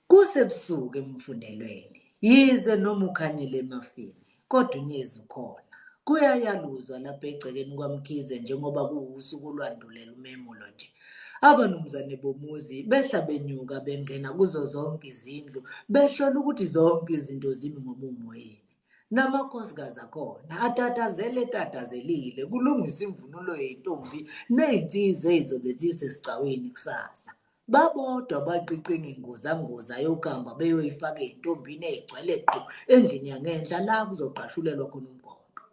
Kusebusuku emfundelweni, yize noma ukhanyile emafini, kodwa uNyezi ukhona. Kuyayaluzwa lapha egcekeni kwaMkhize njengoba kuwusuku olwandulela umemulo nje. Abanumzane bomuzi behla benyuka bengena kuzo zonke izindlu behlola ukuthi zonke izinto zimi ngomumo yini. Namakhosikazi akhona atatazele etatazelile kulungiswa imvunulo yentombi ney'nsizwa ey'zobe zisesigcawini kusasa. Babodwa baqiqa inginguzanguza yokamba beyoyifaka ezintombini ezigcwele qhu endlini yangenhla la kuzogqashulelwa khona umgonqo.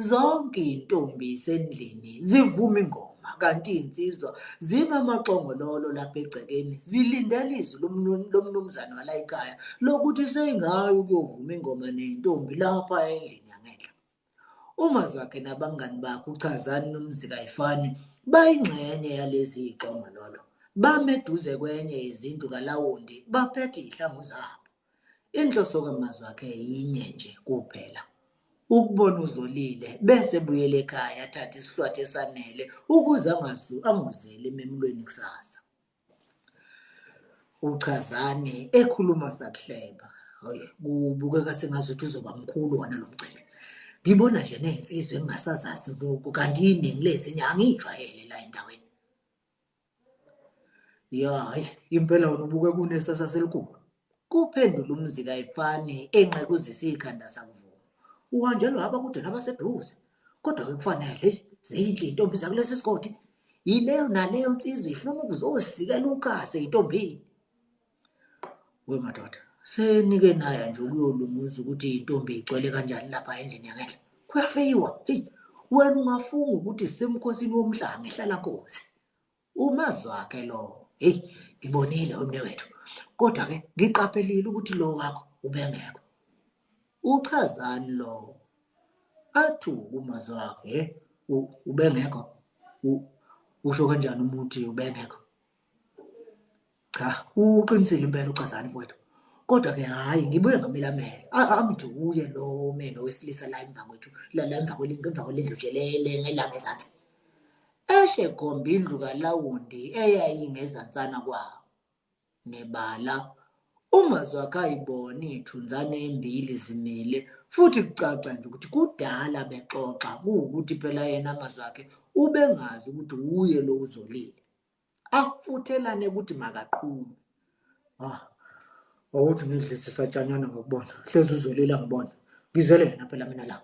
Zonke izintombi zisendlini zivuma ingoma kanti izinsizwa zima amaqongololo lapha egcekeni zilindele izwi lomnumzane walayikhaya lokuthi seyingayi ukuyovuma ingoma nezintombi lapha endlini yangenhla. UMazwakhe nabangani bakhe uChazani noMzi Kayifani bayingxenye yalezi zixongololo. Bame eduze kwenye yezindlu kaLawundi baphethe izihlangu zabo. Inhloso kaMazwakhe yinye nje kuphela, ukubona uZolile bese ebuyela ekhaya athathe isihlwathi esanele ukuze angozeli ememulweni kusasa. Uchazani ekhuluma sakuhleba. Hayi kubukeka sengazuthi uzoba mkhulu wona lo mcimbi. Ngibona nje nezinsizwa engingasazazi lokhu kanti iningi lezinye angiyijwayele la endaweni. Ya hayi impela wena ubukeka unesasa selikhulu. Kuphendula umzi kayifani enqekuzisa ikhanda sakuvuma. Uhanjelwa haba kude nabaseduze. Kodwa ke kufanele zinhle intombi zakulesi sigodi. Yileyo naleyo nsizwa ifuna ukuzosikela uqase intombini. We madoda, senike naya nje ukuyolunguza ukuthi intombi igcwele kanjani lapha endlini yangenhla. Kuyafeyiwa. Hey, wena ungafunga ukuthi simkhosini womhlanga ehlala nkosi. Umazwakhe lowo. Hey, ngibonile umnewethu. Kodwa ke ngiqaphelile ukuthi lo wakho ubengekho. Uchazani lowo? Athu umazwakhe, hey, ubengekho. Usho kanjani umuthi ubengekho? Cha, uqinisile impela uChazani mfowethu. Kodwa-ke hhayi ngibuye ngamilamele. A- Angiduye lo meno wesilisa la emva kwethu, la la emva kwelindlu, emva kwelindlu nje le le ngelanga ezansi. Eshe gomba indlu kalawundi eyayingezansana kwawo. Nebala, uMazwakhe ayibone iy'thunzane embili zimile futhi kucaca nje ukuthi kudala bexoxa kuwukuthi phela yena Mazwakhe ubengazi ukuthi wuye lo uzolile. afuthelane ukuthi makaqhume ah awuthi ngidlise satshanyana ngokubona hlezi uzolila ngibona ngizele yena phela mina la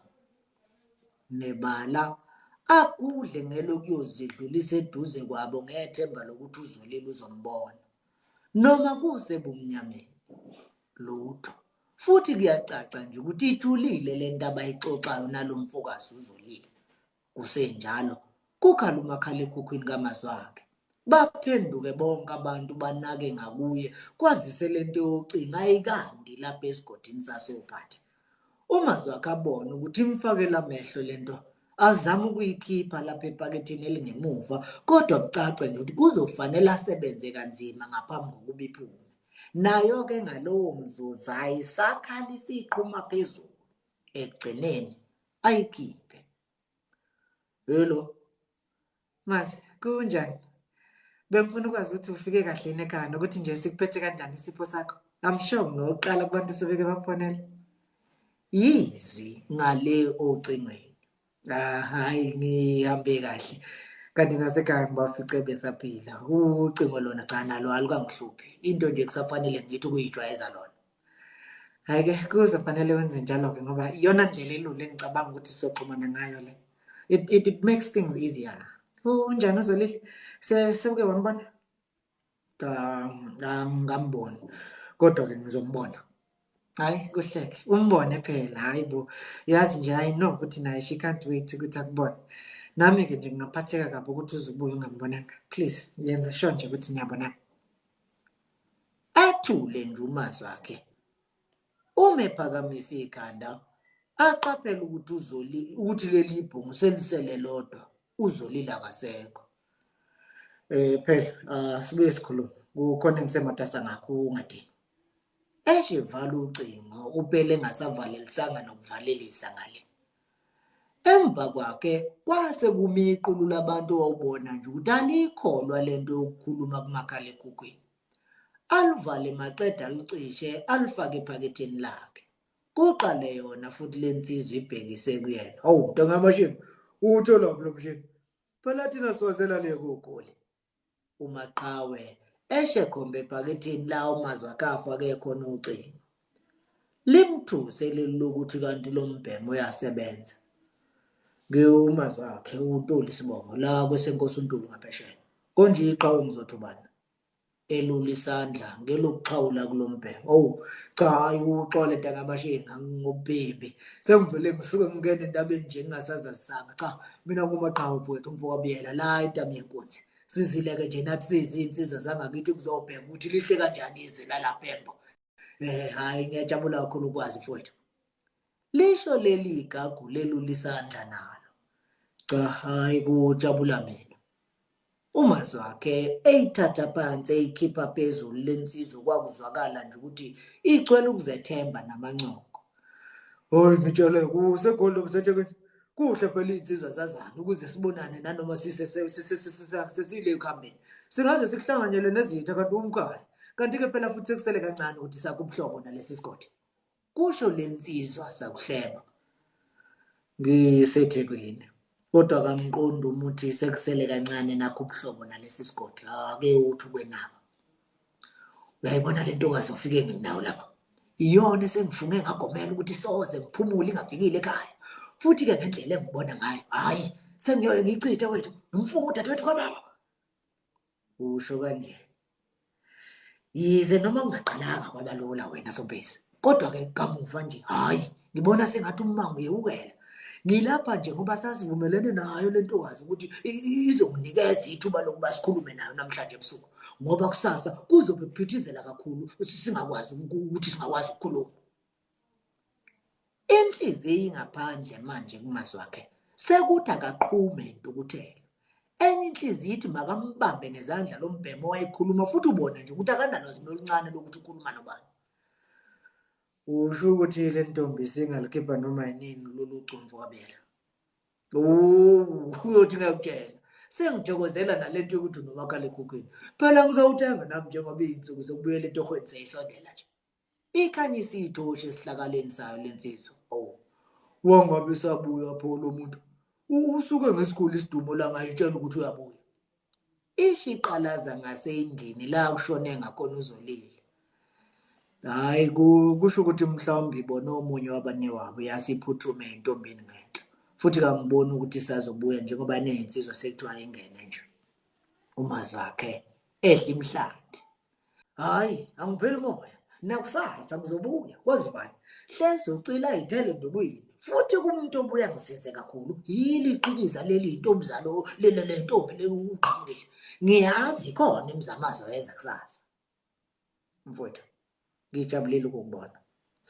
nebala agudle ngelokuyozidlulisa eduze kwabo ngethemba lokuthi uzolile uzombona noma kusebumnyameni lutho futhi kuyacaca nje ukuthi ithulile le nto abayixoxayo nalo mfokazi uzolile Kusenjalo, kukhala umakhalekhukhwini kaMazwakhe. Baphenduke bonke abantu banake ngakuye kwazise le nto yocinga ayikandi lapha esigodini sasoPhatha. UMazwakhe abone ukuthi imfakela amehlo le nto azama ukuyikhipha lapha epakethini elingemuva kodwa kucace nje ukuthi kuzofanele asebenze kanzima ngaphambi kokuba iphume. Nayo-ke ngalowo mzuzu ayisakhala isiqhuma phezulu. ekugcineni ayikhiphe hello manje kunjani bengifuna ukwazi ukuthi ufike kahle yini ekhaya nokuthi nje sikuphethe kanjani isipho sakho i'm sure ngokuqala kubantu sebeke bakufonela yizwi ngale ocingweni ah hayi ngihambe kahle kanti nasekhaya ngibafice besaphila ucingo lona cha nalo alukangihluphi into nje kusafanele ngithi ukuyijwayeza lona hhayi-ke kuzofanele wenze njalo-ke ngoba iyona ndlela elula engicabanga ukuthi sizoxhumana ngayo le it, it, it makes things easier unjani uzolile sewuke wambona cha ngambona kodwa ke ngizombona hayi kuhleke umbone phela hayi bo yazi nje i know ukuthi naye she can't wait ukuthi akubone nami ke nje ngingaphatheka kabi ukuthi uzubuye ungambonanga please yenza sure nje ukuthi niyabonana athule nje umazwi wakhe Uma ephakamisa ikhanda aqaphela ukuthi uzoli ukuthi leli ibhungu selisele lodwa uzolile akasekho eh phela ah, sibuye sikhulume kukhona engisematasa ngakho ungadini eshe vala ucingo upele engasavalelisanga nokuvalelisa ngale emva kwakhe kwase kumiqulu labantu owawubona nje ukuthi alikholwa lento yokukhuluma kumakhalekhukhwini Aluvale maqede alucishe alufake ephaketheni lakhe. Kuqale yona futhi le nsizwa ibhekise kuyena. Hawu, mntanga amashimba, uwutholaphi lo mshini? Phela thina siwazela le kogoli. UMaqhawe eshe khombe ephaketheni lawo mazwi akhe afake khona ucingo. Limthuse leli lokuthi kanti lo mbhemu uyasebenza. Ngiwumazwi akhe uNtuli Sibongo la kwesenkosi uNtuli ngaphesheya. Konje iqhawe ngizothi ubani? elula isandla ngelokuxhawula kulombheko owu cha hayi uxole ntakamashenge ngobhimbi sengivele ngisuke ngingena entabeni nje ngingasazazisanga cha mina ngumaqhawe bwethu umfowabiyela la entami yenkunzi sizileke nje nathi siyizinsizwa zangakithi kuzobheka ukuthi lihle kanjani izwi lalapembo um eh, hhayi ngiyajabula kakhulu ukwazi mfowethu Lisho leli igagu lelula isandla nalo. Cha hayi kujabula mina. UMazwakhe eyithatha phansi eyikhipha phezulu lensizwa kwakuzwakala nje ukuthi igcwele ukuzethemba namancoko. Hoyi ngitshele kuseGoli lobuseThekwini. Kuhle phela iy'nsizwa zazana ukuze sibonane nanoma sesile ekuhambeni. Singaze sikuhlanganyele nezitha kanti uwumkhaya. Kanti-ke phela futhi sekusele kancane ukuthi sakhe ubuhlobo nalesi sigodi. kusho le nsizwa sakuhleba ngisethekwini kodwa kamqondi umuthi sekusele kancane nakho ubuhlobo nalesi sigodi ake uthi ukwenaba uyayibona le ntokazi ofike nginawo lapha iyona esengifunge ngagomela ukuthi soze ngiphumule ingafikile ekhaya futhi-ke ngendlela engibona ngayo hhayi sengiyoye ngiyichithe wethu ngimfunga udadewethu kwababa Usho kanje. Yize noma kungaqalanga kwabalula wena Sobhesi, kodwa ke kamuva nje hayi ngibona sengathi ummango uyewukela. Ngilapha nje ngoba sasivumelene nayo lentokazi ukuthi izokunikeza ithuba lokuba sikhulume nayo namhlanje ebusuku ngoba kusasa kuzobe kuphithizela kakhulu singakwazi ukuthi singakwazi ukukhuluma. Inhliziyi ingaphandle manje kumazwi akhe sekuthi akaqhume intukuthelo. Enye inhliziyi ithi makambambe ngezandla lo mbhemu owayekhuluma futhi ubone nje ukuthi akanalwazi noluncane lokuthi ukhuluma nobani. Usho ukuthi le ntombi singalikhipha noma yinini lolu cumvu kabela. Uyothi ngiyakutshela sengithokozela nalento yokuthi unomakhalekhukhwini phela ngizowuthenga nami njengoba iy'nsuku zokubuyela etohweni seyisondela nje Ikhanyisa ithoshi esihlakaleni sayo lensizwa. Awu. Wangabe sabuya pho lo muntu. Usuke ngesikhulu isidumo la ngayitshela ukuthi uyabuya. Ishiqalaza ngasendlini la kushone ngakhona uzolile. Hayi kusho ukuthi mhlawumbe ibona omunye wabanewabo yasiphuthume intombini ngenhla. Futhi kangiboni ukuthi isazobuya njengoba neyinsizwa sekuthiwa ingene nje. Umazwakhe ehla imhlathi. hayi angipheli umoya nakusasa ngizobuya kwazi bani hlezi ucila ithele ndokwini futhi kumuntu obuya ngisize kakhulu yili iqiniza leli ntombuzalo lele le ntombi lekuqhamukile ngiyazi khona imizamazo yenza kusasa mfowethu ngijabulile ukukubona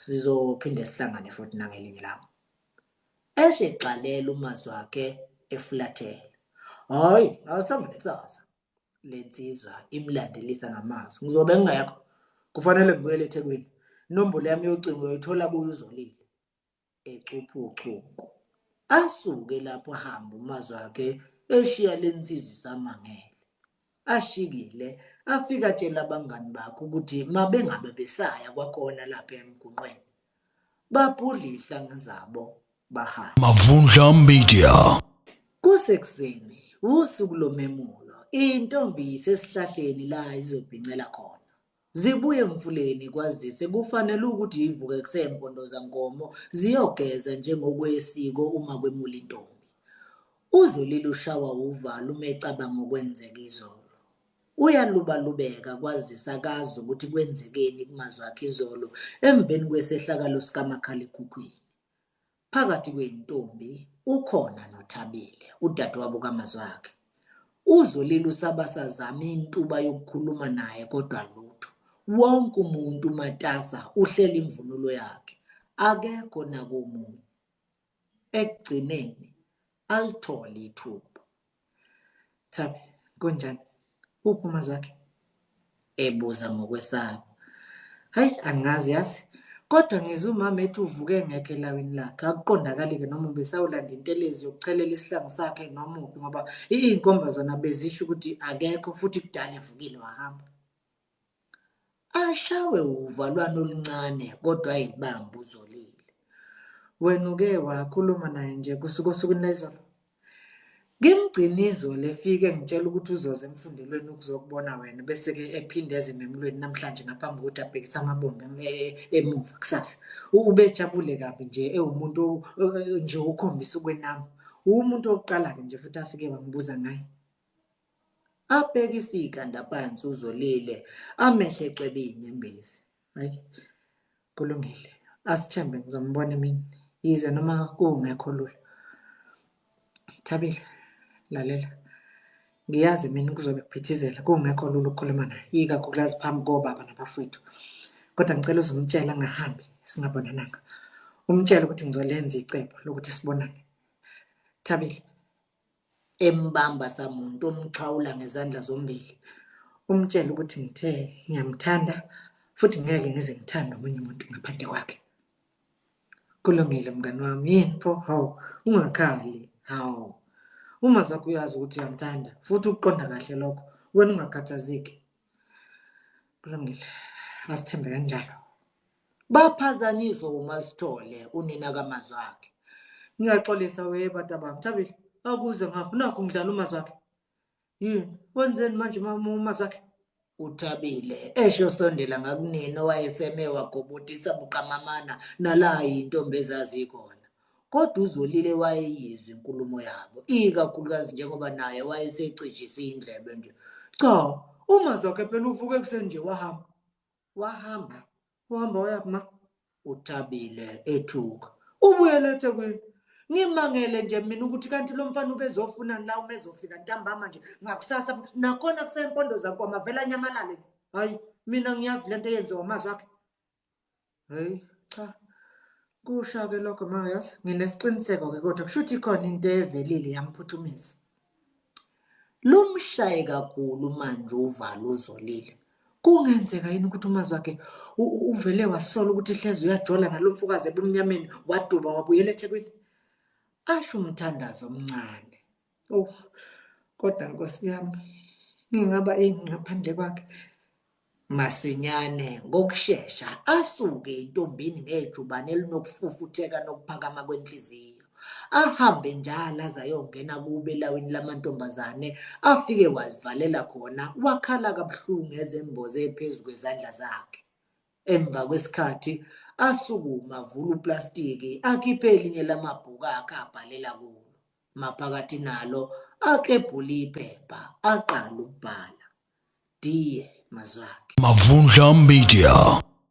sizophinde sihlangane futhi nangelinye lami eshe gxalela umazwi wakhe efulathele hayi awuhlangane kusasa lensizwa imlandelisa ngamazwi ngizobe ngingekho kufanele ngibuyele ethekwini inombolo yami yocingo uyoyithola kuyo uzolile ecupha uchuku asuke lapho hamba umazwi wakhe eshiya lensizwa isamangele ashikile afika atshela abangani bakhe ukuthi mabengabe besaya kwakhona lapha emgunqweni babhudla ihlanga zabo bahamba Mavundla Media kusekuseni usuku lomemulo intombi isesihlahleni la izobhincela khona zibuye emfuleni kwazise kufanele ukuthi ivuke kusempondoza nkomo ziyogeza njengokwesiko uma kwemula intombi uzolile ushawa uvalo uma ecabanga okwenzeka izolo Uyalubalubeka kwazise akazi ukuthi kwenzekeni kumazwi akhe izolo emveni kwesehlakalo sikamakhalekhukhwini. Phakathi kwey'ntombi ukhona noThabile, udadewabo kaMazwakhe. UZolile usaba sazama intuba yokukhuluma naye kodwa lutho. Wonke umuntu umatasa uhlela imvunulo yakhe. Akekho nakomunye. ekugcineni alithole ithuba thabi kunjani uphi umazwi wakhe ebuza ngokwesaba hayi angazi yazi kodwa ngizwe umama ethi uvuke ngekho elawini lakhe akuqondakali-ke noma ubesawulanda intelezi yokuchelela isihlangu sakhe noma uphi ngoba iy'nkomba zona bezisho ukuthi akekho futhi kudala evukile wahamba Ashawe uvalwane oluncane kodwa ayibambe uzolile. Wena uke wakhuluma naye nje kusuka osukwini lezolo? Ngimgcina izolo efike ngitshela ukuthi uzoza emfundelweni ukuzokubona wena bese-ke ephinde eze ememulweni namhlanje ngaphambi kokuthi abhekise amabombe e-, emuva kusasa. Ubejabule kabi nje ewumuntu nje ukhombisa ukwenama. Uwumuntu wokuqala-ke nje futhi afike wangibuza ngaye. abheke isikanda phansi uzolile amehle cwebe inyembezi hayi kulungile asithembe ngizombona emini yize noma kungekho lula thabile lalela ngiyazi mina kuzobe kuphithizela kungekho lula ukukhuluma naye ikakhulukazi phambi kobaba nabafowethu kodwa ngicela uzomtshela angahambi singabonananga umtshele ukuthi ngizolenza icebo lokuthi sibonane thabile embamba samuntu omxhawula ngezandla zombili umtshela ukuthi ngithe ngiyamthanda futhi ngeke ngize ngithande omunye umuntu ngaphandle kwakhe kulungile mngani wami yini pho hawu ungakhali hawu uma zakho uyazi ukuthi uyamthanda futhi ukuqonda kahle lokho wena ungakhathazeki kulungile asithembe kanjalo baphazanyiswe umasithole unina kamazwi akhe ngiyaxolisa weye bata bami thabile akuze ngapho nakho ngidlala umazwi akhe yini wenzeni manje umazwi akhe uthabile esho sondela ngakunini owayeseme wagobotisa buqamamana nala yintombi ezazi ikhona kodwa uzolile wayeyizwa inkulumo yabo ikakhulukazi njengoba naye wayesecijise indlebe nje cha umazwi wakhe phela uvuke kuseni nje wahamba wahamba uhamba waya kuma uthabile ethuka ubuyele ethekwini ngimangele nje mina ukuthi kanti lo mfana ubezofuna la uma ezofika ntambama nje ngakusasa nakhona kusempondo zakho amavela anyamalale hayi mina ngiyazi le nto eyenziwa amazwi akhe hayi cha kusha-ke lokho mayazi nginesiqiniseko-ke kodwa kusho ukuthi khona into evelile yamphuthumisa Lumshaye kakhulu manje uvalo uzolile. Kungenzeka yini ukuthi umazi wakhe uvele wasola ukuthi hleze uyajola nalo mfokazi ebumnyameni waduba wabuyela eThekwini? Asho umthandazo omncane. Oh, kodwa Nkosi yami, ngingaba ini ngaphandle kwakhe? Masinyane, ngokushesha, asuke entombini ngejubane elinokufufutheka nokuphakama kwenhliziyo. Ahambe njalo aze ayongena kubo elawini lamantombazane, afike wazivalela khona, wakhala kabuhlungu ezemboze phezu kwezandla zakhe. Emva kwesikhathi, asukume avule uplastiki, akhiphe elinye lamabhuku akhe abhalela kulo. Maphakathi nalo akebhula iphepha aqala ukubhala. Die, Mazwakhe. Mavundla Media.